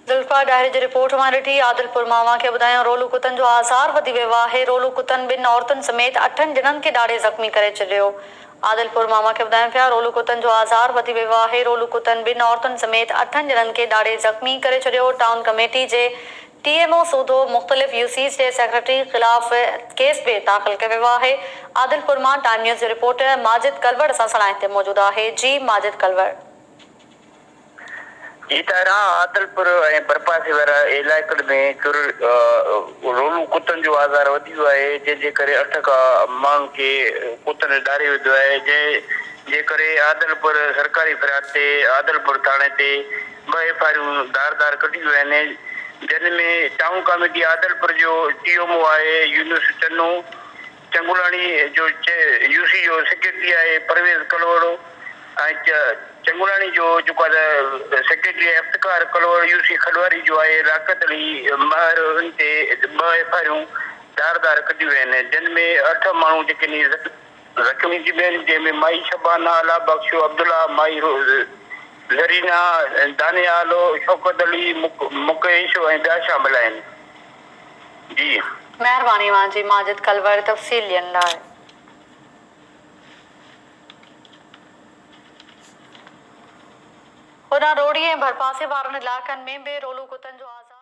ذوالفقار ڏاهري جي رپورٽ مان ڏٺي عادل پورماوا کي ٻڌايائون رولو ڪتن جو آزار وڌي ويو آهي رولو ڪتن ٻن عورتن سميت اٺن ڄڻن کي ڏاڙهي زخمي ڪري ڇڏيو عادل پورماوا کي ٻڌايون پيا رولو ڪتن جو آزار وڌي ويو آهي رولو ڪتن ٻن عورتن سميت اٺن ڄڻن کي ڏاڙهي زخمي ڪري ڇڏيو ٽائون ڪميٽي جي ٽي ايم او سوڌو مختلف يو سيز جي سيڪريٽري خلاف ڪيس به داخل ڪيو ويو آهي عادل پورما ٽائيم نيوز جو رپورٽر ماجد ڪلوڙ اسان سان لائين تي موجود آهي جي ماجد ڪلوڙ. جي تهران، عادلپور ۽ برپاسي وارا علائقن ۾ چور رولون ڪتن جو آزار وڌي ويو آهي جنهن جي ڪري اٺ کان ماڻهن کي ڪتن ڏاري وڌو آهي جنهن جي ڪري عادلپور سرڪاري فراڊ تي عادلپور ٿاڻي تي ٻه ايف آريون دار دار ڪڍيون ويون آهن جن ۾ ٽائون ڪاميٽي عادلپور جو ٽي ايم او آهي يونس چنو چنگولاڻي جو يو سي جو سيڪريٽري آهي پرويز ڪلهوڙو ۽ چنگولاڻي جو جيڪو آهي ته سيڪريٽري آهي افتخار ڪلهوڙو، يو سي کڏواري جو آهي لياقت علي مهر ان تي ٻه ايف آء آرون ڌار ڌار ڪڍيون ويون آهن جن ۾ اٺ ماڻهو جيڪي ني زخمي ٿي پيا آهن جنهن ۾ مائي شبانه، الله بخش، عبدالله، مائي زرينه، دانيال، شوڪت علي، مڪيش ۽ ٻيا شامل آهن. جي. مهرباني اوهان جي ماجد ڪلور تفصيل ڏين لاء. هن روڙي ۽ ڀرپاسي وارن علائقن ۾ به رولو ڪتن جو آزار.